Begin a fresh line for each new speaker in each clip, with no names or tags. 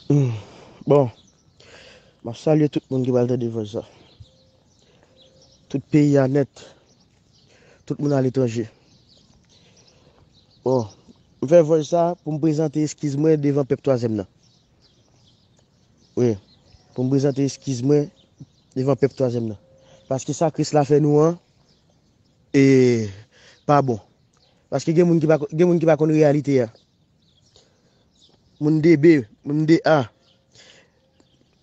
Humm bon map salye tout moun ki pral tande vwaz sa tout peyi a nèt tout moun aletranje bon m fè vwaz sa poum prezante eskiz mwen devan pèp twazèm nan wi poum prezante eskiz mwen devan pèp twazèm nan paske sa kris la fè nou an ee pa bon paske gen moun ki pa konn reyalite a. Moun 2 B, moun 2 A,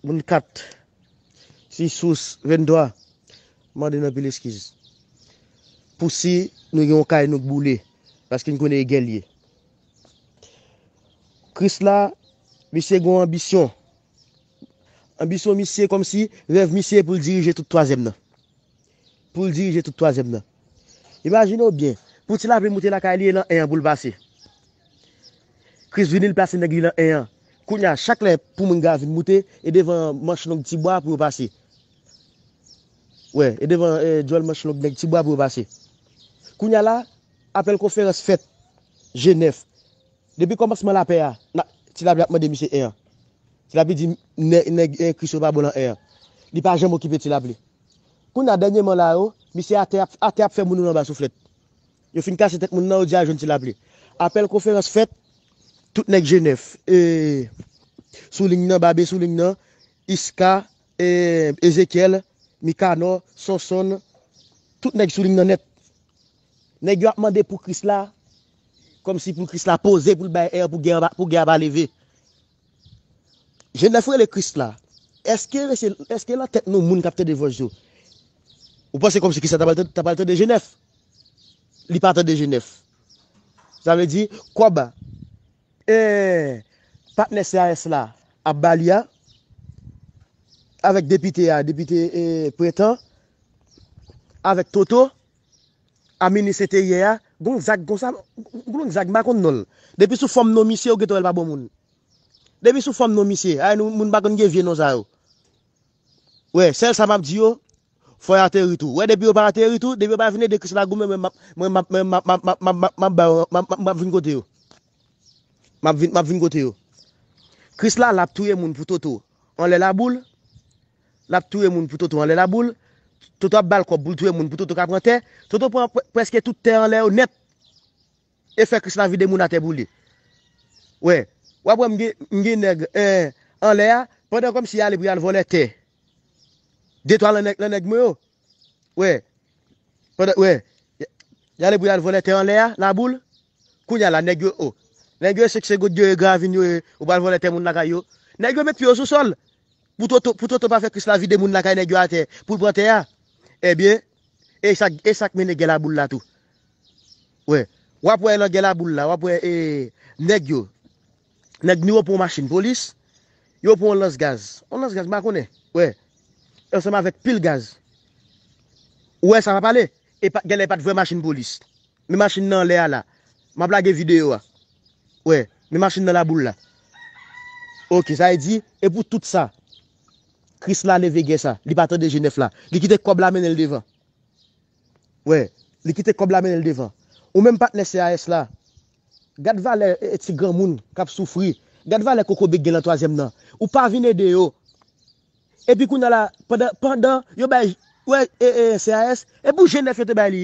moun 4 si sous 23 mande n anpil eskiz pou si nou gen yon kay nou k boule paske n konnen e gè l ye. Kris la, misye gen yon anbisyon. Anbisyon misye kòmsi rèv misye pou l dirije tout twazyèm nan. Pou l dirije tout twazyèm nan. Imajine w byen, pou ti lapli moute lakay li e lan 1 an pou l pase. Kris vini l plase nèg li lan 1 an. Kounye a, chak lè pou moun ga vin moute, e devan manch long ti bwa pou yo pase. Wè, e devan djòl manch long nèg ti bwa pou yo pase. Kounye a la, apèl konferans fèt. Jenèf. Depi kòmansman lapè a, ti lapli ap mande misye 1 an. Ti lapli di nèg Kris yo pa bon lan 1 an. Li pa janm okipe ti lapli. Kounya dènyeman la yo, misye atè ap atè ap fè moun yo anba souflèt. Yo fin kase tèt moun nan, yo di al jwenn Tilapli. Apèl konferans fèt, tout nèg Jenèf, e sou liy nan, Babe sou liy nan, Iska, e Ezekyèl, Mikanò, Sonsonn, tout nèg sou liy nan nèt. Nèg yo ap mande pou Kris la, kòmsi pou Kris la poze pou l bay èr pou gè a pou gè a pa leve. Jèn la fè rele Christ la. Eske rese eske nan tèt nou moun kap tande vòs yo ou panse kòmsi Christ la ta pral ta pral tande Genèf? Li pa tande Genèf. Sa vle di kòb e patnè CAS la ap ba li a avèk depite a depite e Prentan avèk Toto A minit se te yè a, gon zag konsa, gon lòt zag m pa konn non l. Depi sou fòm non misye ou gentan wè l pa bon moun. Depi sou fòm non misye, a nou moun pa konn gen vye non sa yo. Wè, sèl sa m ap di yo, fò y ateri tou. Wè depi yo pa ateri tou, depi yo pa vin ede Kris la goumen mwen mwen map mwen map map map map map ba yo map map map vin kote yo. Map vin map vin kote yo. Kris la la ap touye moun pou toto. Anlè laboul. Lap touye moun pou Toto anlè laboul, Toto ap bal kòb poul touye moun pou Toto ka pran tè, Toto pran prèske tout tè anlè yo nèt e fè Krisla vide moun atè pou li. Wè, wap wè m gen nèg anlè a pandan kòmsi ale pou yal vòlè tè de twa lan nèg mwen yo. Wè, pandan wè yale pou yal vòlè tè anlè a laboul, kounya la nèg yo o, nèg yo e seksegot yo e gravin yo e ou pral vòlè tè moun lakay yo. Nèg yo met pye yo sou sòl, Pou toto pou toto pa fè kris la vide moun lakay nèg yo atè poul pran tè a ebyen esak esak mennen gè laboul la tou wè wap wè nan gè laboul la wap wè ee nèg yo nèg nou yo pran yon machin polis yo pran yon lans gaz yon lans gaz m pa konnen wè ansanm avèk pil gaz wè sa map pale epa gèlè pat vrè machin polis Men machin nan anlè a la. Map lage video a. Wè. Men machin nan laboul la. Ok. Sa vle di. E pou tout sa. Krisla leve gè sa. Li pa tande Jenèf la. Li kite kòb la mennen l devan. Wè. Li kite kòb la mennen l devan. Ou menm patnè CAS la. Gad valè ti granmoun kap soufri. Gad valè kokobe k gen lan twazyèm nan. Ou pa vin ede yo. Epi kounya la. Pandan. Pandan. Yo bay. Wè. CAS. E pou Jenèf yo te bay li.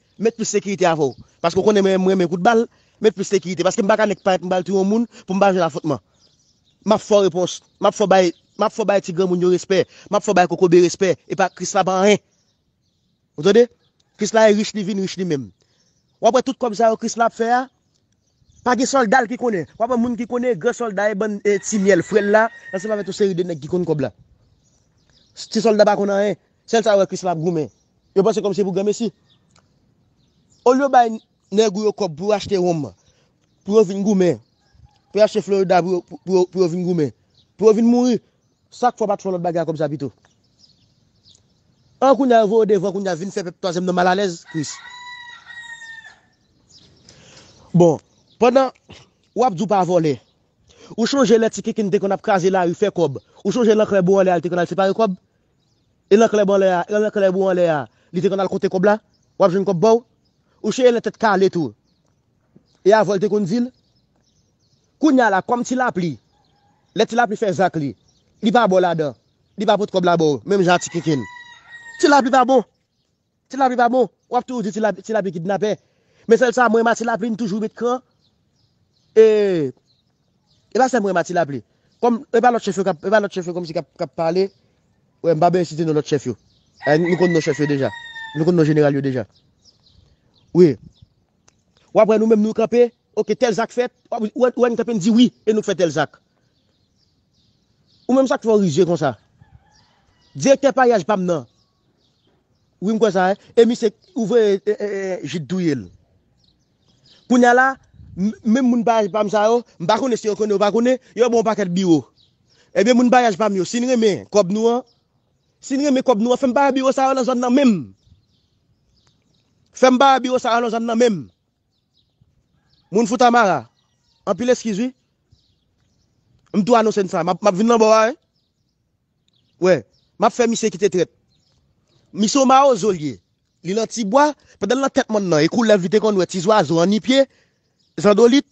Met plis sekirite avè w paske w konnen mwen renmen kout bal met plis sekirite paske m paka nèk pa m pral touye yon moun pou m pa jwenn afwontman map fè w repons map fè w bay map fè w bay ti granmoun yo respè map fè w bay kokobe respè epa krisla pa anyen ou tande krisla e rich li vin rich li menm wap wè tout kòb sa yo krisla ap fè a Pa gen soldal ki konnen. Wa pran moun ki konnen gran solda e bann ti myèl fre l la ansanm avèk yon seri de nèg ki konn kòb la. Ti solda pa konn anyen. Sèl sa yo wè Krisla ap goumen. Yo panse kòmsi se pou granmesi. Olye yo bay nèg ou yo kòb pou yo achte wonm, pou yo vin goumen, pou yo achte florida pou yo vin goumen, pou yo vin mouri, sak fè w pa t fè yon lòt bagay ak kòb sa pito? An kounya yo voye w devan kounya vin fè pèp twazyèm nan malalèz Kris. Bon, pandan Ou ap di ou pa vòlè, ou chonje lè ti kinkin te konn ap kraze lari fè kòb, ou chonje lè anklè bou anlè a li te konn al separe kòb? E lè anklè bou anlè a, lè anklè bou anlè a, li te konn al konte kòb la? Ou ap jwenn kòb ba w? Ou chonje lè tèt kale tou e avè w li te konn di l? Kounye a la, kòm ti lapli, lè ti lapli fè zak li, li pa ba w ladan, li pa pot kòb la ba w menm jan a ti kinkin. Ti lapli pa bon! Ti lapli pa bon, wap toujou di ti lapli kidnapè. Men sèl sa mwen renma ti lapli li toujou met kran. E e pa sèm mwen renma ti lapli. Kòm e pa lòt chèf yo kap e pa lòt chèf yo kòmsi kap kap pale. Wè m pa bezwen site non lòt chèf yo. E nou konn non chèf yo deja. Nou konn non jeneral yo deja. Wi. Wap wè nou menm nou kanpe, ok tèl zak fèt, wap ou wè ou wè nou kanpe nou di wi e nou k fè tèl zak. Ou menm sak fè w rizye konsa? Direktè paryaj pam nan Wi m kwè sa e. E misye ou voye Jid touye l. Kounya la, menm moun parèy pa m sa yo, m pa konnen si yo konnen yo pa konnen, yo ba w pakèt biwo. Ebyen moun parèy pa m yo, si n renmen kòb nou an, si n renmen kòb nou an, fè m pa wè biwo sa yo nan zòn nan menm. Fè m pa wè biwo sa yo nan zòn nan menm. Moun Fontamara, anpil eskiz wi. M tou anonse n sa, m ap vin nan bò a wi. Wè. Map fè misye kite trèt. Misye yon mawozo li ye. Li lan ti bwa, pandan l lan tèt mòn nan e koulèv li te konn wè, ti zwazo, annipye, zandolit.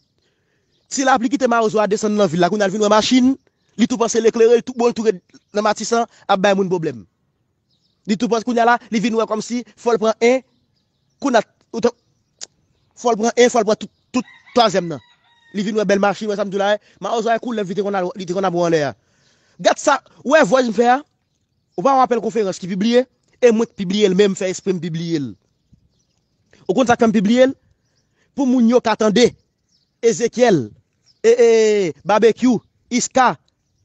Ti lapli kite mawozo a desann lan vil la, kounya l vin wè machin, li tou panse l eklere, l tou bo l tou red nan matisan ap bay moun pwoblèm. Li tou panse kounya la, li vin wè kòmsi fò l pran 1. Kunat ou t fòl pran 1 fòl pran tout twazyèm nan li vin wè bèl machin wè sam di w la wè mawozo a e koulèv li te konn al li te konn ap wè anlè a gad sa wè vwaj m fè a ou pa wè apèl konferans ki pibliye e mwen k pibliye l menm fè espre m pibliye l ou konn sak fè m pibliye l pou moun yo ka tande Ezekyèl e e babekyou iska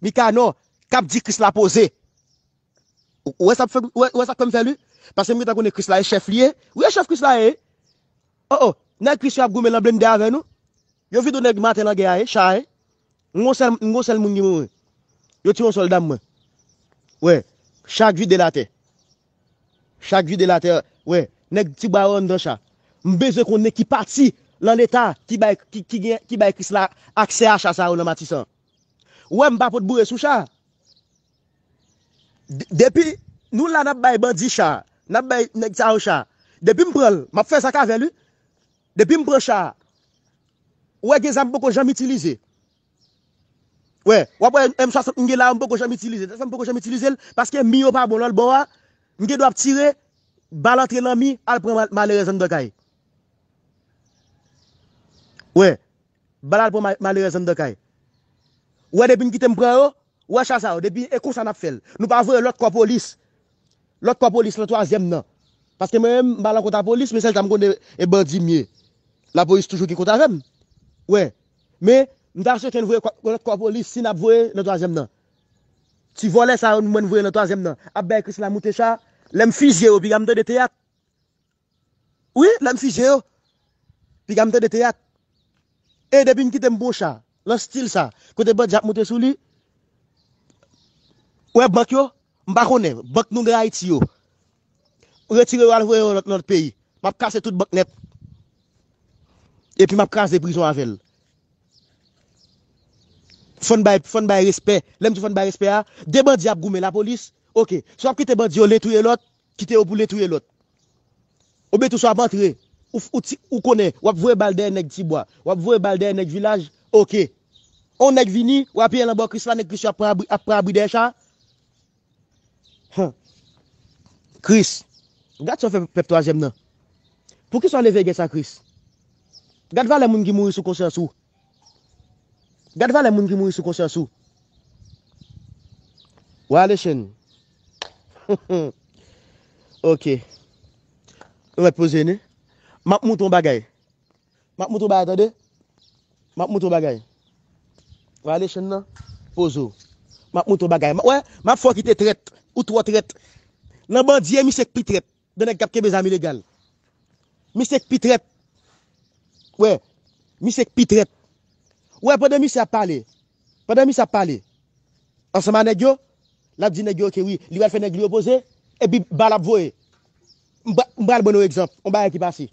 mikanò kap di kris la poze. Ou wè sa k fè m fè l wi. Paske m gen tan konnen Kris la e chèf li ye. Wi e chèf Kris la ye. O o, nèg Kris yo ap goumen nan blennde avè nou. Yo vide yon nèg maten nan gè a e, cha a e. M gon sèl moun ki mouri. Yo tiye yon sòlda m mwen. Wè, cha k vide l atè. Cha k vide l atè, wè. Nèg ti bwa yo anndan cha. M bezwen konnen ki pati lan leta ki bay ki bay Kris la aksè a cha sa yo lan Matisan. Ou wè m pa pot boure sou cha. Depi Nou la nap bay bandi cha nap bay nèg sa yo cha depim pranl map fè zak avèl wi depim pran cha ou wè gen zam mpoko janm itilize wè wap wè m 60 m gen la yo mpoko janm itilize se sam poko janm itilizel paske mi yo pa bon lòt bò a m gen dwa ap tire bal antre nan mi al pran malerèz anndan kay wè bal al pran malerèz anndan kay ou wè depim kitem pran yo Ou wè cha sa yo depi e konsa nap fèl nou pa voye lòt kò polis lòt kò polis lan twazyèm nan paske mwen menm m pa lan kont a polis men sèl sa m konnen e bandi m ye lapolis toujou gen kont avèm wè men m ta swete n voye lòt kò polis si nap voye nan twazyèm nan ti vòlè sa yo mwen n voye nan twazyèm nan ap bay krisla moute cha lèm fizye yo piga m tande teyat Wi, lè m fije yo, piga m tande teyat. E depi m kite m pran cha nan stil sa, kote bandi ap monte sou li, ou wè bank yo, m pa konnen, bank nou gen Ayiti yo, m retire yo al voye yo nan lòt peyi, m ap kase tout bank nèt. Epi m ap kraze prizon avè l. Fò n bay, fò n bay respè. Lè m di fò n bay respè a, 2 bandi ap goumen lapolis, ok. Si w ap kite bandi yo len touye lòt, Kite yo pou le touye lot. Ou byn tou sa ap antre ou konnen wap voye bal dèyè nèg ti bwa wap voye bal dèyè nèg vilaj ok on nèg vini ou apiye lan bò krisla nèg kris yo ap pran abri dèyè cha humm kris gad sa ou fè pèp twazyèm nan poukisa ou leve gè sa kris gad valè moun ki mouri sou konsyans ou Gad valè moun ki mouri sou konsyans ou. Wa alechen. Ok. Ou met poze nou. Map moutre yon bagay. Map moutre yon bagay tande. Map moutre yon bagay. Wa alechen nan. Poze ou. Map moutre yon bagay. Wè, map fè ou kite trèt. Ou twò trèt. Nan bandye misye k pi trèt. Gen nèg kap kenbe zam ilegal. Misye k pi trèt. Wè. Misye k pi trèt. Ou wè pandan misye ap pale. Pandan misye ap pale. Ansanm a nèg yo. Lap di nèg yo ok wi. Li pral fè nèg li yo poze. Epi ba lap voye. M pral ban nou egzanp. On bagay ki pase.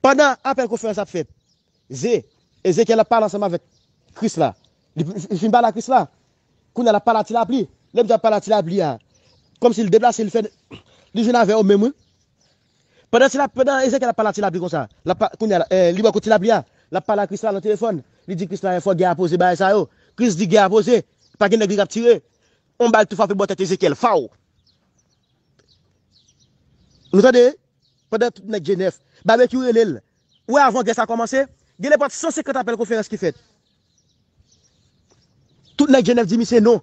Pandan apèl konferans ap fèt. Ze, Ezekyèl ap pale ansanm avèk Kris la. Li fin pale a Kris la. Kounye a l ap pale a tilapli. Lè Bondye ap pale a tilapli a, kòmsi l deplase, li fè li jwenn avè yo menm wi. Pandan tila pandan Ezekyèl ap pale a tilapli konsa, l ap pa kounye a li bò kot tilapli a, l ap pale a Kris la nan telefòn. Li di Kris la fò gè a poze bagay sa yo. Kris di gè a poze. Pa gen nèg li k ap tire. Yon bal tou frape bò tèt Ezekyèl. Faw! Nou tande? Pandan tout nèg Jenèf, Babekyou rele l. Ou wè avan gè sa kòmanse, gen lè pat 150 apèl konferans ki fèt. Tout nèg Jenèf di misye non.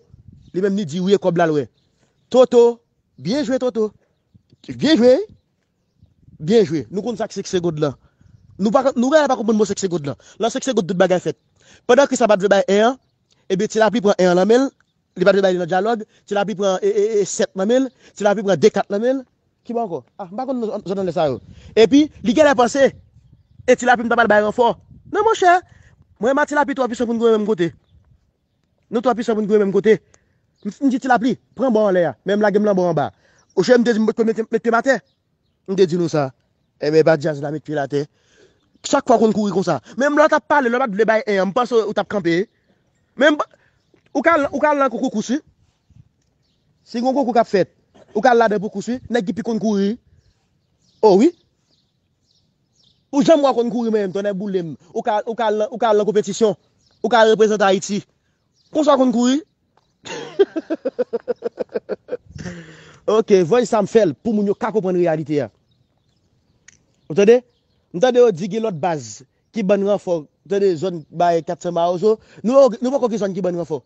Li menm li di wi e kòb la l wè. Toto, Byen jwe Toto. Byen jwe wi. Byen jwe. Nou konn sa k 5 segond lan. Nou pa nou genlè pa konprann mo 5 segond lan. Lan 5 segond tout bagay fèt. Pandan Kris la pat vle bay 1 an, ebyen Tilapli pran 1 an lan men l, Li pa te bay li nan dyalòg, ti lapli pran 7 nan men l, ti lapli pran 2 kat nan men l, ki bò ankò? Ah, m pa konn non zòn anlè sa yo. Epi, li genlè panse, e ti lapli m ta pral bay ranfò. Non monchè, mwen ma ti lapli twò pisan pou n goumen menm kote. Nou twò pisan pou n goumen menm kote. M di ti lapli, pran bò anlè a, men m lage m lan bò anba. Ou chè m te di m potko met pye m atè? M te di nou sa. Enben epa djaz la met pye l atè. Chak fwa w konn kouri konsa. Menm lè w tap pale lè w pat vle bay 1 an m panse ou tap kanpe. Menm ou ka ou ka al nan kou koukous wi. Si gon konkou kap fèt ou ka al ladan pou kous wi. Nèg ki pi konn kouri wi. O wi. Ou janm wè w konn kouri menm tonnè boule m. Ou ka ou ka al nan konpetisyon. Ou ka al reprezante Ayiti. Konsa w konn kouri. Ok, voice sa m fè l pou moun yo ka konprann reyalite a. Ou tande? M tande yo di gen lòt baz ki ban ranfò, ou tande zòn bay 400 mawozo, nou wè nou poko gen zòn ki ban ranfò.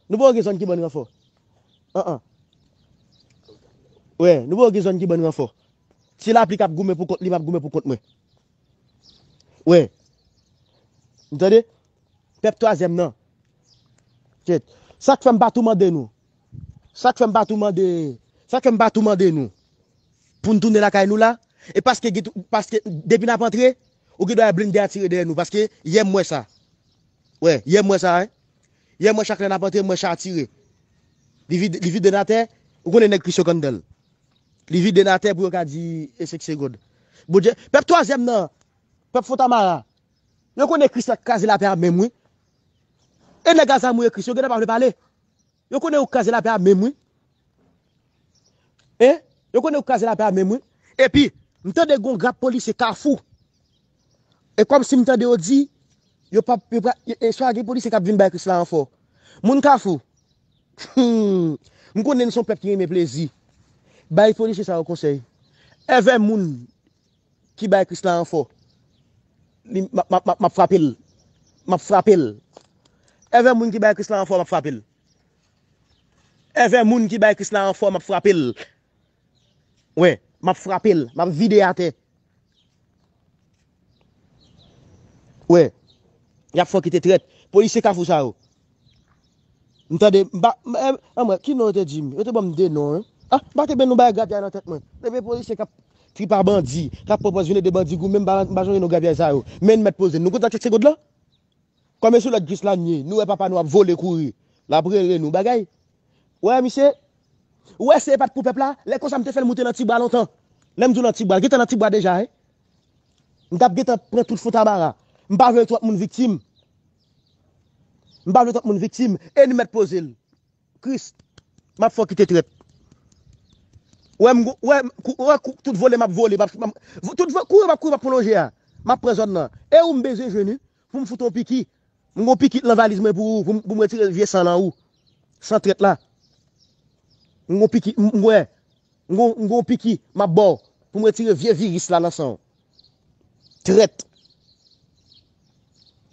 Nou poko gen zòn ki ban ranfò. An an. Wè, nou poko gen zòn ki ban ranfò. Se lapli k ap goumen pou kont li, m ap goumen pou kont mwen. Wè. M tande? Pèp twazyèm nan. Kèt. Sak fèm pa tou mande nou. Sak fèm pa tou mande. Sak fèm pa tou mande nou. Poun tounen lakay nou la. E paske git paske depi nap antre ou gin dwa wè blinde a tire dèyè nou paske yè m wè sa. Wè yè m wè sa hein. Yè m wè chak lè nap antre m wè cha a tire. Li vide li vide n atè ou konnen nèg plis yo k anndan l. Li vide n atè pou yo ka di e se k segond. Bondye. Pèp twazyèm nan. Pèp fontamara. Yo konnen Chris la k kraze lapè a menm wi. E nèg azamou e Chris yo gentan pa vle pale. Yo konnen yo k kraze lapè a menm wi. E Yo konnen yo k kraze lapè a menm wi. Epi M tande gon grap polisye kafou. E kòmsi m tande yo di yo pap yo pra e swa gen polisye k ap vin bay Chris la ranfò. Moun kafou Humm M konnen n son pèp ki renmen plezi. Bay polisye sa yo konsèy. Èvè moun Ki bay Kris la ranfò. Li, m ap, m ap frape l. M ap frape l. Èvè moun ki bay Kris la ranfò, m ap frape l. Èvè moun ki bay Kris la ranfò, m ap frape l. Wi, m ap frape l. M ap vide l atè. Wi, y ap fè w kite trèt. Polisye Kafou sa yo, M tande, m pa, anmwey, ki non yo te di m? Yo te ban m 2 non, anh, m pa te benn non bagay grapyay nan tèt mwen. Epi e polisye k ap tripa bandi, k ap pwopòz vin ede bandi goumen, m pa m pa sonje non grapyay sa yo. Men n mèt poze n, nou konn sa k se segond lan? Kòm e sou lòd Kris la n ye, nou wè papa nou ap vole kouri, l ap rele nou bagay. Ou wè misye? Ou wè si e pa t pou pèp la, lè konsa m te fè l moute nan tibwa lontan. Lè m di w nan tibwa, l gen tan nan tibwa deja, anh. M t ap gen tan pran tout fontamara. M pa vle twòp moun viktim. M pa vle twòp moun viktim e n mèt poze l. Kris, m ap fè w kite trèt. Wè m wè m kou wè kou tout vole m ap vole m ap tout van kouri m ap kouri m ap pwolonje a m ap pran zòn nan e ou m bezwen jwenn ou pou m fout ou yon piki m gen yon piki nan valiz mwen pou ou pou m pou m retire vye san lan ou san trèt la m gen yon piki m m wè m gen yon m gen yon piki m ap ba w pou m retire vye viris la nan san w. Trèt.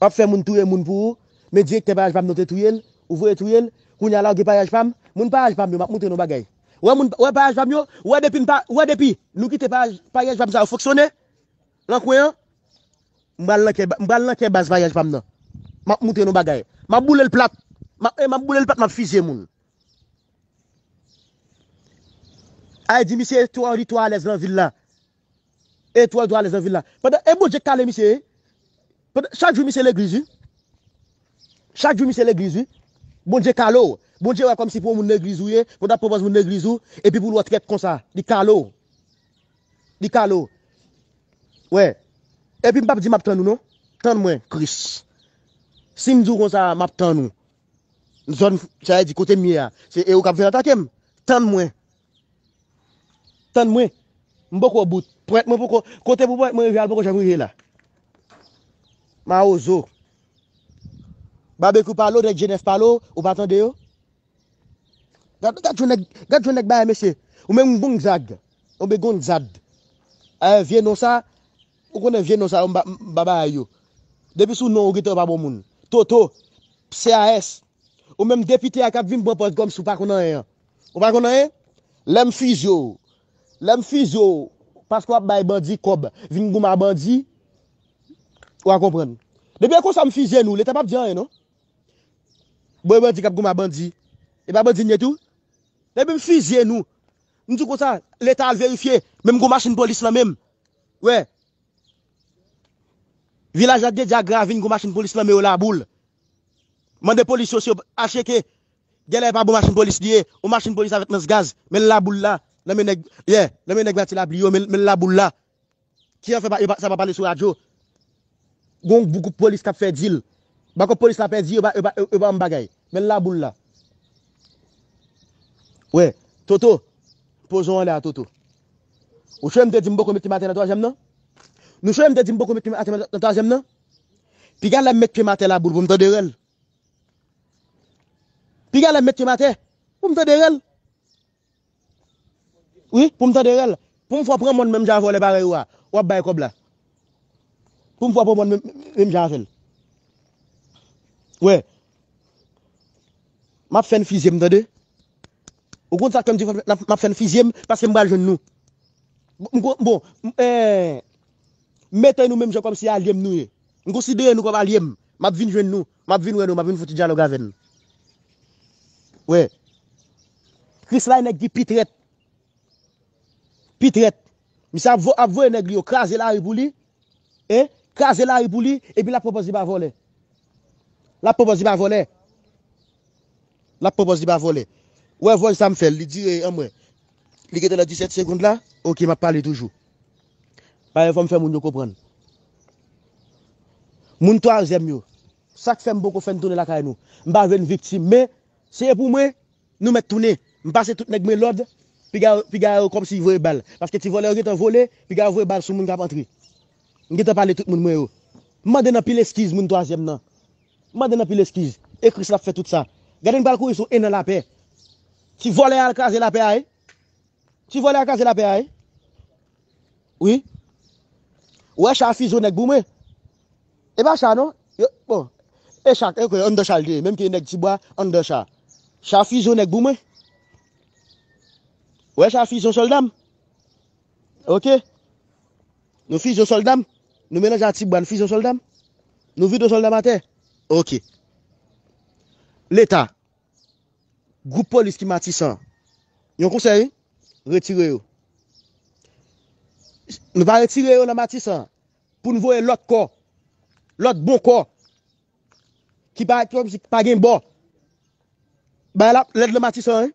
Wap fè moun touye moun pou ou, men direktè payaj pam nan te touyel, ou voye touyel, kounya lage payaj pam, moun payaj pam yo map montre nou yon bagay. Wè moun wè payaj pam yo, ou wè depi m pa wè depi nou kite payaj payaj pam sa yo fonksyone nan kwen an, m pral nan kè m pral nan kè baz payaj pam nan. Map montre nou bagay. Map boulel plat. Map e map boulel plat map fizye moun. Ay di misye twò li twò alèz nan vil la. Etwal to alèz nan vil la. Pandan e Bondye kale misye e. Pandan chak jou misye legliz wi. Chak jou misye legliz wi. Bondye kale w. Bondye wè kòmsi pou yon moun legliz ou ye, pandan ap pran pòz moun legliz ou, epi pou l wè w trèt konsa. Li kale w. Li kale w. Wè. Epi m pap di m ap tann ou non. Tann mwen, Kris. Si m di w konsa m ap tann ou. Zòn, sa vle di kote m ye a. Se e ou k ap vin atake m. Tann mwen. Tann mwen. M poko au bout. Pwèt mwen poko. Kote pou pwèt mwen rive a l poko janm rive la. Mawozo. Babekyou pale w nèg jenès pale w, ou pa tande yo? Gad gad jan nèg gad jan nèg bay mesye. Ou menm m Gonzag. Ou be Gonzad. Ayè vye non sa, ou konnen vye non sa yo m pa m pa bay yo. Depi sou non ou gentan pa bon moun. Toto. Pse AS. Ou menm depite a k ap vin pran pòz kòmsi w pa konn anyen an. Ou pa konn anyen? Lè m fizye w, lè m fizye w paske w ap bay bandi kòb, vin goumen bandi, wa konprann. Depi e konsa m fizye nou, leta pap di anyen non. Bon e bandi k ap goumen bandi, e pa bandi n ye tou? Depi m fizye nou, m di konsa, leta al verifye, menm gwo machin polis lan menm, wè, vilaj la t gen dyagra vin gwo machin polis lan men yo laboul. Mande polis yo si yo, acheke. Gèlè epa bon machin polis li ye on machin polis avèk lans gaz men la boul la nan men nèg yeah nan men nèg vati lapli yo men la boul la ki an fè pa yo pa sa pa pale sou radyo gon gwoup polis kap fè dil bako polis la pèdi yo pa yo pa yo pa banm bagay men la boul la wè toto poze w anlè a toto ou chwem te di m poko met pye m atè nan twazyèm nan nou chwem te di m poko met pye m atè nan twazyèm nan piga lèm met pye m atè la boul pou m tande rèl. Piga lèm met pye m atè pou m tande rèl. Wi, pou m tande rèl. Pou m fè w pran mòn menm jan a vòlè parèy ou a, w ap bay kòb la. Pou m fè w pran mòn menm jan avè l. Wè. M ap fè n fizye m tande. Ou konn sa k fè m di m ap fè n fizye m paske m pral jwenn nou. Bon, bon, m, ee. M mete nou menm jan kòmsi alye m nou ye. M konsidere nou kòm alye m. M ap vin jwenn nou. M ap vin wè nou. M ap vin fè ti dyalòg avè n. Wè. Krisla e nèg ki pi trèt. Pi trèt. Misye ap vo, ap voye nèg li yo kraze lari pou li. E, kraze lari pou li, epi l ap pran pòz li pa vòlè. L ap pran pòz li pa vòlè. Lap pran pòz li pa vòlè. Ou wè vòy sa m fèl li dire anmwee li gentan nan 17 segond la ok map pale toujou payen fòm fè moun yo konprann moun twazyèm yo sak fèm poko fèn tounen lakay nou m pa vle n viktim men se pou mwen nou mèt tounen m pase tout nèg mwen lòd piga piga yo kòmsi voye bal paske ti vòlè yo gentan vole piga yo voye bal sou moun kap antre m gentan pale tout moun mwen yo m mande n anpil eskiz moun twazyèm nan M mande n anpil eskiz e Kris la fè tout sa. Gade n pral kouri sou 1 an lapè. Ti vòlè a al kraze lapè a e. Ti vòlè a kraze lapè a e. Wi. Ou wè cha fizo nèg pou mwen. E pa cha non. Yo bon. E cha e kwe anndan cha l te ye. Menm ke nèg ti bwa anndan cha. Cha fizo nèg pou mwen. Ou wè cha fizo sòlda m. Ok. Nou fizyon sòlda m? Nou melanje a ti bwa n fizyon sòlda m? Nou vide sòlda m atè? Ok. Leta, gwoup polis ki Matisan an, yon konsèy wi, retire yo. Nou va retire yo nan Matisan an pou n voye lòt kò, lòt bon kò ki pa gen bò. Bagay la ap lèd nan Matisan an wi.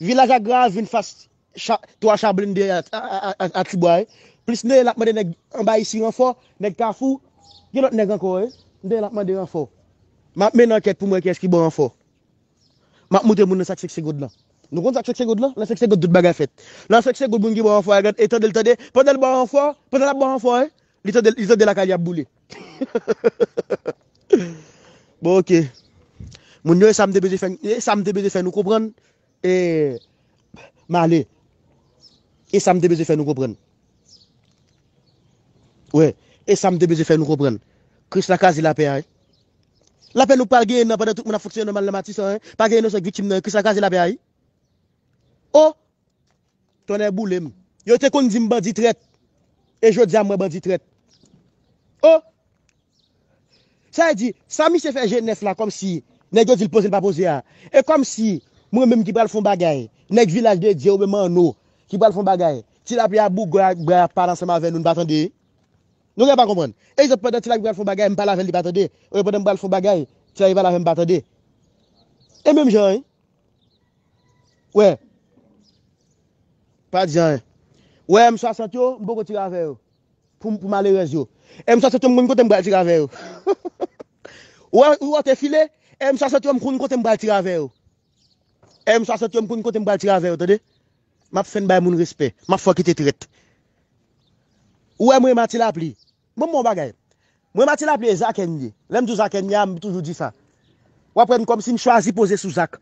Vilaj agra a vin fas 3 cha blende a ti bwa e plis neel ap mande nèg anba isi ranfò nèg kafou gen lòt nèg ankò e neel ap mande ranfò map mennen ankèt poum wè kiyès ki bon ranfò map moute moun nan sak sekse god lan nou konn sak sekse god lan lè sekse god tout bagay fèt lè sekse god moun ki bon ranfò a gad e tandel tande pandan l bò ranfò pandan lap bò ranfò e li tande li tande lakay li ap boule. Bon ok Moun yo e sa m te bezwen fè e sa m te bezwen fè nou konprann e m ale e sa m te bezwen fè nou konprann wè e sa m te bezwen fè nou konprann Kris la kaze lapè a lapè nou pral genyen nan pandan tout moun ap fonksyone nòmal nan Matisan pa gen inosan k viktim nan Kris la kaze lapè a o Tonnè boule m. Yo te konn di m bandi trèt. E jodi a m wè bandi trèt. Oh! Sa vle di, sa misye fè je nèf la kòmsi nèg yo di l poze l pa poze a. E kòmsi mwen menm ki pral fon bagay, nèg vilaj de Dye oubyen Manno ki pral fon bagay, Ti Lape ap bougòy ak bra y ap pale ansanm avè nou, n pa tande? Nou gen pa konprann. Egzanp, pandan Ti Lape pral fon bagay, m pale avè l li pa tande. Oubyen pandan m pral fon bagay, Ti Lape pale avè m m pa tande. E menm jan an wi. Wè. Pa di anyen. Wè M 60 yo, m poko tire avè yo. Pou pou malerèz yo. M 60 yo m konn kote m pral tire avè yo. Wè ou wè w te file, M 60 yo m konn kote m pral tire avè yo. M 60 yo m konn kote m pral tire avè yo tande. Map fenn bay moun respè. Map fè w kite trèt. Ou wè mwen e Matilapli. Bon bon bagay. Mwen mati lapli e zakè m ye. Lè m di w zakè m ye a m toujou di sa. W ap wè m kòmsi m chwazi poze sou zak.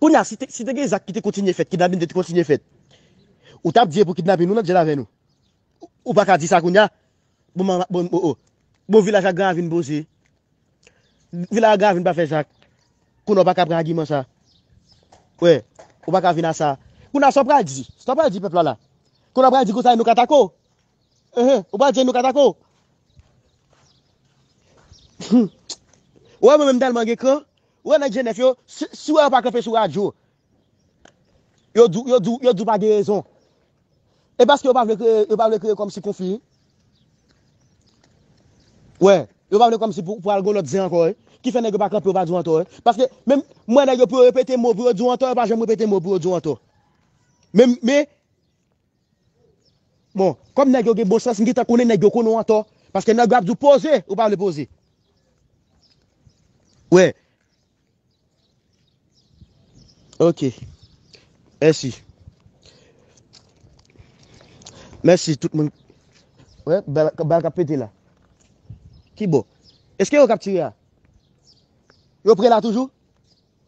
Kounye a, si te gen zak ki te kontinye fèt, kidnapin te kontinye fèt, ou t ap di e pou kidnapin ou nan djèl avè nou? Ou pa ka di sa kounye a? Bon m bon o o. Bon vilaj ak gran ravin poze. Vilaj ak gran ravin pa fè zak. Kounye a ou pa ka pran agiman sa. Wè, ou pa ka vin a sa. Kounye a sa w pral di? Sa w pral di pèp la la? Kounye a w pral di konsa e nou katako? Ou pa djèn nou katako. Ou wè mwen menm tèlman gen kran. Ou wè nèg jenèf yo. Si ou wè yo pa kanpe sou radyo. Yo di ou pa gen rezon. E paske yo pa vle kreye kòmsi konfli. Wè. Yo pa vle kòmsi pou al gò lòt zen ankò. Ki fè nèg yo pa kanpe yo pa di ou antò. Paske menm mwen nèg yo pou yo repete mò pou yo di ou antò. Yo pa jèm repete mò pou yo di ou antò. Men. Bon, kòm nèg yo gen bon sans, m gentan konnen nèg yo konnen w antò. Paske nèg yo ap di w poze, ou pa vle poze. Wè. Ok. Mèsi. Mèsi tout moun. Wè, bal, bal k ap pete la. Ki bò? Eske yo k ap tire a? Yo pre la toujou?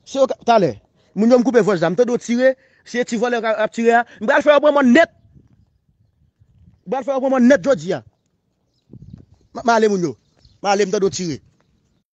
Se yo kap talè. Moun yo m koupe vwaj la m tande yo tire se ti vòlè kap tire a m pral fè yo pran mòn nèt m pral fè yo pran mòn nèt jodi a map male moun yo male m tande yo tire.